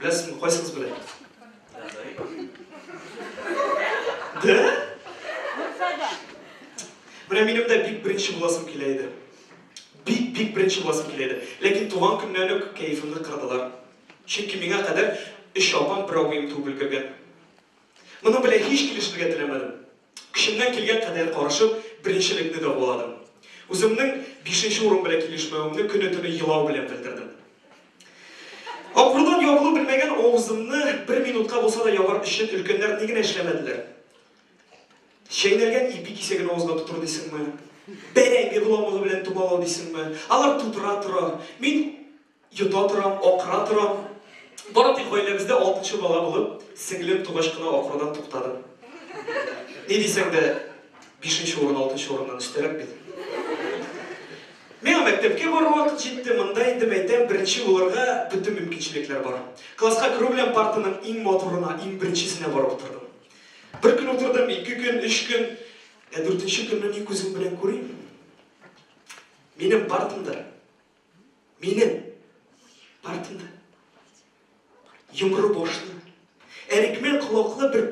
Беләсезме, кайсы кыз белә? Дә? Менә минем дә бик беренче буласым килә иде. Бик, бик беренче буласым килә иде. Ләкин туган көннән үк кәефемне кырдылар. Чөнки миңа кадәр өч апам, бер абыем туып өлгергән. Моның белән һич килешергә теләмәдем. Көчемнән килгән кадәр карышып, беренчелекне дәваладым. Үземнең бишенче урын белән килешмәвемне көне-төне елау белән белдердем. Акрынлап ябылу белмәгән авызымны бер минутка булса да ябар өчен өлкәннәр ни генә эшләмәделәр. Чәйнәлгән ипи кисәген авызга тотыр дисеңме? Бәрәңге боламыгы белән томалау дисеңме? Алар тутыра тора, мин. Йота торам, акыра торам. Бары тик гаиләбездә алтынчы бала булып, сеңлем тугач кына акырудан туктадым. Ни дисәң дә, бишенче урын алтынчы урыннан өстәрәк бит. Миңа мәктәпкә барыр вакыт җитте, монда инде, мәйтәм, беренче булырга бөтен мөмкинчелекләр бар. Класска керү белән партаның иң матурына, иң беренчесенә барып утырдым. Бер көн утырдым, ике көн, өч көн. Ә дүртенче көнне ни күзем белән күрим, минем партамда Минем артымда йомры башлы, әрекмән колаклы бер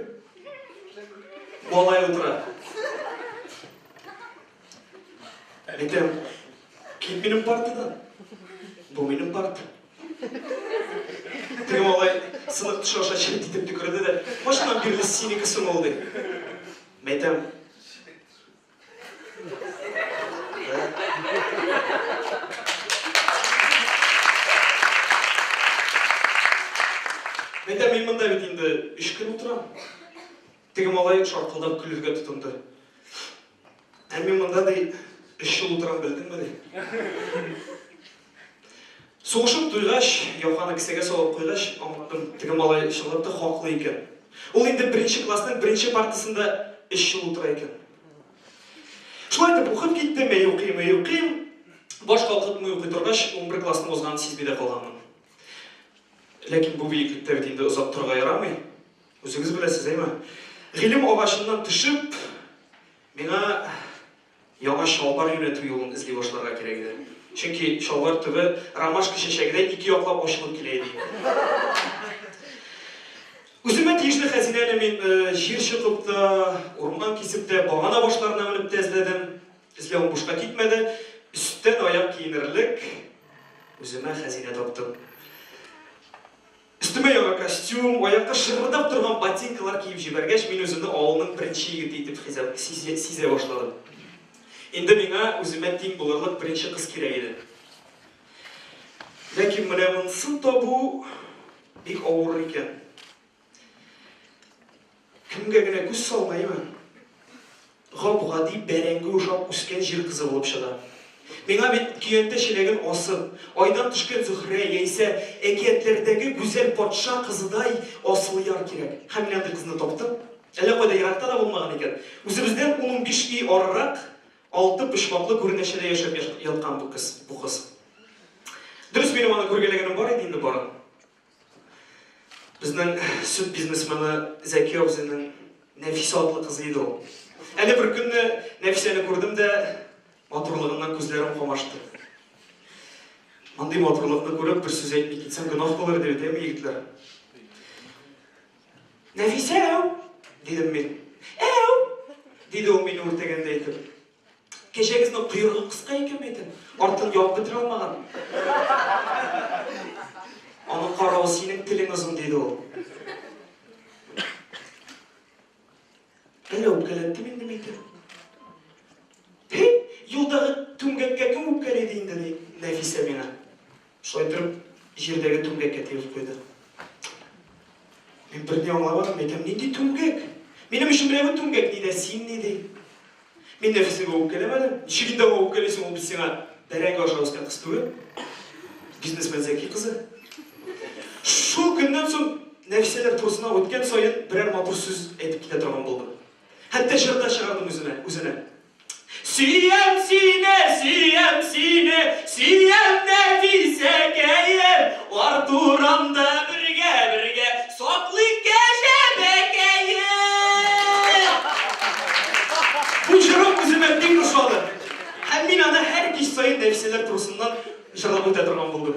малай утыра. Әйтәм, кит минем партадан. Бу минем парта. Теге малай сынық тыш аша чет итеп төкерде дә, машинам бирде синеке соң ул ди. Мәйтәм, Әйдә, мин монда бит инде өч көн утырам. Теге малай шаркылдап көлергә тотынды. Ә мин монда ди өч ел утырам белдеңме ди. Сугышып туйгач, яканы кесәгә салып куйгач, аңладым, теге малай чынлап та хаклы икән. Ул инде беренче классның беренче партасында өч ел утыра икән. Шулай итеп укып киттем, әй укыйм, әй укыйм. Баш калкытмый укый торгач, унбер классны узганын сизми дә калганмын. Ләкин бу биеклектә бит инде озак торырга ярамый. Үзегез беләсез, әйме? Гыйлем агачыннан төшеп, миңа Яңа чалбар юнәтү юлын эзли башларга кирәк иде. Чөнки чалбар төбе ромашка чәчәгедәй ике яклап ачылып килә иде инде. Үземә тиешле хәзинәне мин җир чокып та, урман кисеп тә, багана башларына менеп тә эзләдем. Эзләвем бушка китмәде. Өстән аяк киенерлек үземә хәзинә таптым. Өстемә яңа костюм, аякка шырырдап торган ботинкалар киеп җибәргәч, мин үземне авылның беренче егете итеп хизә, сизә башладым. Инде миңа үземә тиң булырлык беренче кыз кирәк иде. Ләкин менә монысын табу бик авыр икән. Кемгә генә күз салмаймын. Гап-гади бәрәңге ошап үскән җир кызы булып чыга. Миңа бит көянтә чиләген асып, айдан төшкән Зөһрә яисә әкиятләрдәге гүзәл патша кызыдай Асылъяр кирәк. Һәм мин андый кызны таптым. Әллә кайда еракта да булмаган икән. Үзебездән ун-унбиш өй арырак, алты почмаклы күренәчәдә яшәп яткан бу кыз. Дөрес, минем аны күргәләгәнем бар иде инде барын. Безнең сөт бизнесмены Зәки абзыйның Нәфисә атлы кызы иде ул. Әле бер көнне Нәфисәне күрдем дә, матурлыгыннан күзләрем камашты. Мондый матурлыкны күреп, бер сүз әйтми китсәм, гөнаһ булыр диде, дәме егетләр. Нәфисә, дидем мин. Әу! диде ул мине үртәгәндәй итеп. Кәҗәгезнең койрыгы кыска икән бит, артын ябып бетерә алмаган. Аның каравы синең телең озын, диде ул. Әллә үпкәләттем инде мин итеп? Юлдагы түмгәккә кем үпкәләде инде, ди Нәфисә миңа. Шулай торып, җирдәге түмгәккә тигеп куйды. Мин берни аңламадым, әйтәм, нинди түмгәк? Минем өчен берәү түмгәк ни дә син ни ди. Мин нәфесегә үпкәләмәдем. Ничек инде аңа үпкәлисең, ул бит сиңа бәрәңге аша үскән кыз түгел. Бизнесмен Зәки кызы. Шул көннән соң Нәфисәләр турысына үткән саен берәр матур сүз әйтеп китә торган булдым. Хәтта җыр да чыгардым үземә, үзенә. Сөям сине, сөям сине, сөям Нәфисәкәем, Артурамда бергә, бергә саклыйк кәҗәбәкәем! Бу җырым үземә бик ошады һәм мин аны һәр кич саен Нәфисәләр турысыннан җырлап үтә торган булдым.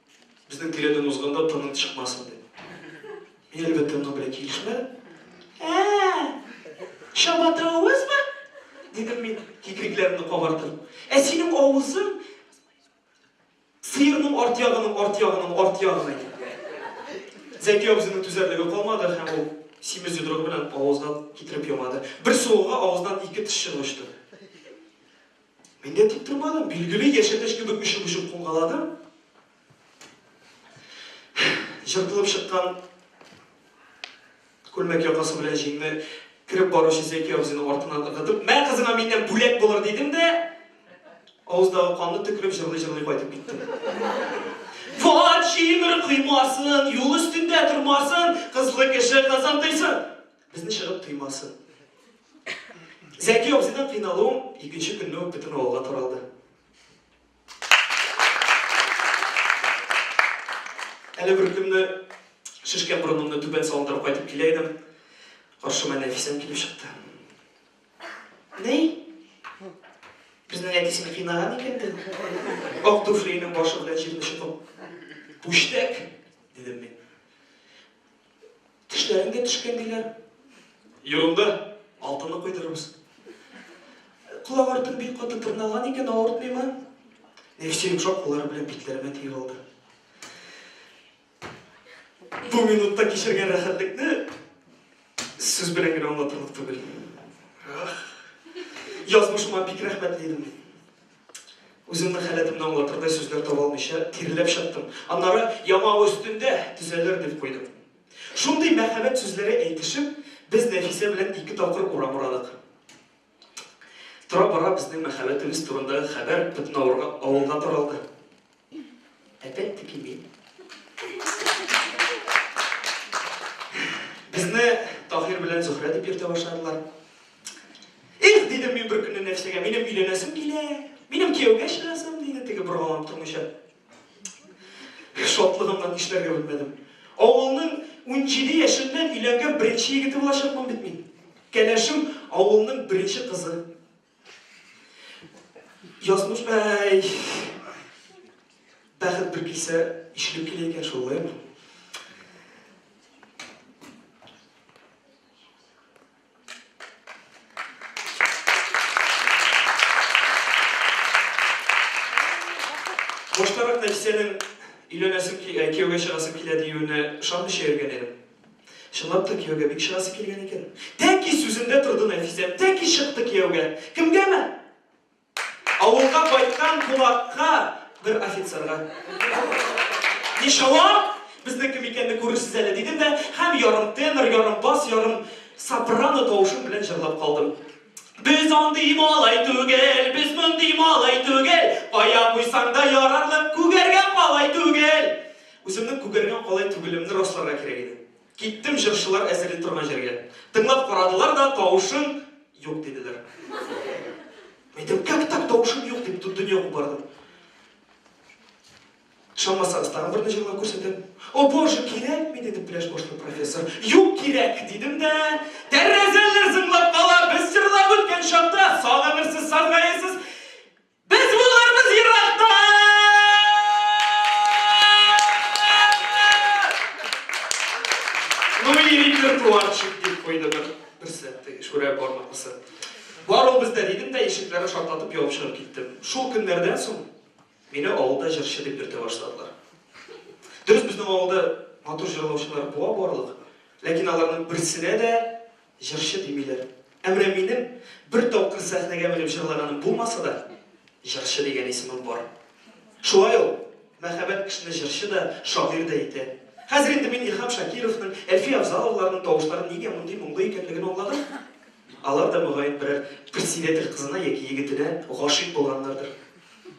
Безнең тирәдән узганда тының чыкмасын дип. Мин, әлбәттә, моның белән килешмәдем. Ә-ә-ә! Чабата авызмы? дидем мин, кикрикләремне кабартып. Ә синең авызың сыерның арт ягының арт ягының арт ягына киткән. Зәки абзыйның түзәрлеге калмады һәм ул симез йодрыгы белән авызына китереп ямады. Бер суыгуга авызыннан ике теш чыгып очты. Мин дә тик тормадым, билгеле, яшәтәч кебек өшеп-өшеп кунгаладым. Җыртылып чыккан күлмәк якасы белән җиңне кереп баручы Зәки абзыйның артыннан ыргытып, Мә, кызыңа миннән бүләк булыр, дидем дә, авыздагы канны төкереп, җырлый-җырлый кайтып киттем. Ват, җимер коймасын, юл өстендә тормасын, кызлы кеше кызын тыйсын! Безне чыгып тыймасын. Зәки абзыйдан кыйналуым икенче көнне үк бөтен авылга таралды. Әле бер көнне шешкән борынымны түбән салындырып кайтып килә идем. Каршыма Нәфисәм килеп чыкты. Ни? Безнең әти сине кыйнаган икән дә. Ак туфлиенең башы белән җирне чокып. Пүчтәк, дидем мин. Тешләреңгә төшкән диләр. Юлымда алтынны куйдырырбыз. Колак артым бик каты тырналган икән, авыртмыймы? Нефтьче йомшак куллары белән битләремә тиеп алды. Бу минутта кичергән рәхәтлекне сүз белән генә аңлатырлык түгел. Ах! Язмышыма бик рәхмәтле идем мин. Үземнең халәтемне аңлатырдай сүзләр таба алмыйча, тиреләп чыктым. Аннары, Ямау өстендә төзәлер, дип куйдым. Шундый мәхәббәт сүзләре әйтешеп, без Нәфисә белән ике тапкыр урам урадык. Тора-бара безнең мәхәббәтебез турындагы хәбәр бөтен авылга таралды. Әтәй тикими. Безне Таһир белән Зөхрә дип йөртә башладылар. Их, дидем мин бер көнне нәрсәгә, минем өйләнәсем килә, минем кияүгә чыгасым, диде теге боргаланып тормыйча. Шатлыгымнан нишләргә белмәдем. Авылның 17 яшеннән өйләнгән беренче егете булачакмын бит мин. Кәләшем авылның беренче кызы. Язмыш бәй! Бәхет бер кисә ишелеп килә икән шул, әйме? Баштарак Нәфисәнең өйләнәсем, киявгә чыгасым килә диюенә ышанмыйча йөргән идем. Чынлап та кияүгә бик чыгасы килгән икән. Тәки сүзендә торды Нәфисә, тәки чыкты кияүгә. Кемгәме? Авылга кайткан кунакка, бер офицерга. Ничао, безнең кем икәнне күрерсез әле, дидем дә һәм ярым тенор, ярым бас, ярым сопрано тавышым белән җырлап калдым. Без андый малай түгел, без мондый малай түгел, кая куйсаң да ярарлык, күгәргә калай түгел. Үземнең күгәргән калай түгелемне расларга кирәк иде. Киттем җырчылар әзерли торган җиргә. Тыңлап карадылар да, тавышың юк, диделәр. Мин әйттем, Как так тавышым юк? дип, бөтен дөнья кубардым. Ышанмасагыз, тагын берне җырлап күрсәтәм. О, Боже, кирәкми, диде пляж башлы профессор. Юк, кирәк, дидем дә. Тәрәзәләр зыңлап кала, без җырлап үткән чакта, сагынырсыз, саргаерсыз. Без булырбыз еракта! Милли репертуарчик, дип куйды бер берсе, шүрә бармаклысы. Бар ул бездә дидем дә, ишекләрне шартатып явып чыгып киттем. Шул көннәрдән соң мине авылда җырчы дип йөртә башладылар. Дөрес, безнең авылда матур җырлаучылар буа барлык, ләкин аларның берсенә дә Җырчы димиләр. Әмрә минем бер тапкыр сәхнәгә менеп җырлаганым булмаса да, җырчы дигән исемем бар. Шулай ул, мәхәббәт кешене җырчы да, шагыйрь дә итә. Хәзер инде мин Илһам Шакировның, Әлфия Авзаловларның тавышлары нигә мондый моңлы икәнлеген аңладым. Алар да, мөгаен, берәр председатель кызына яки егетенә гашыйк булганнардыр.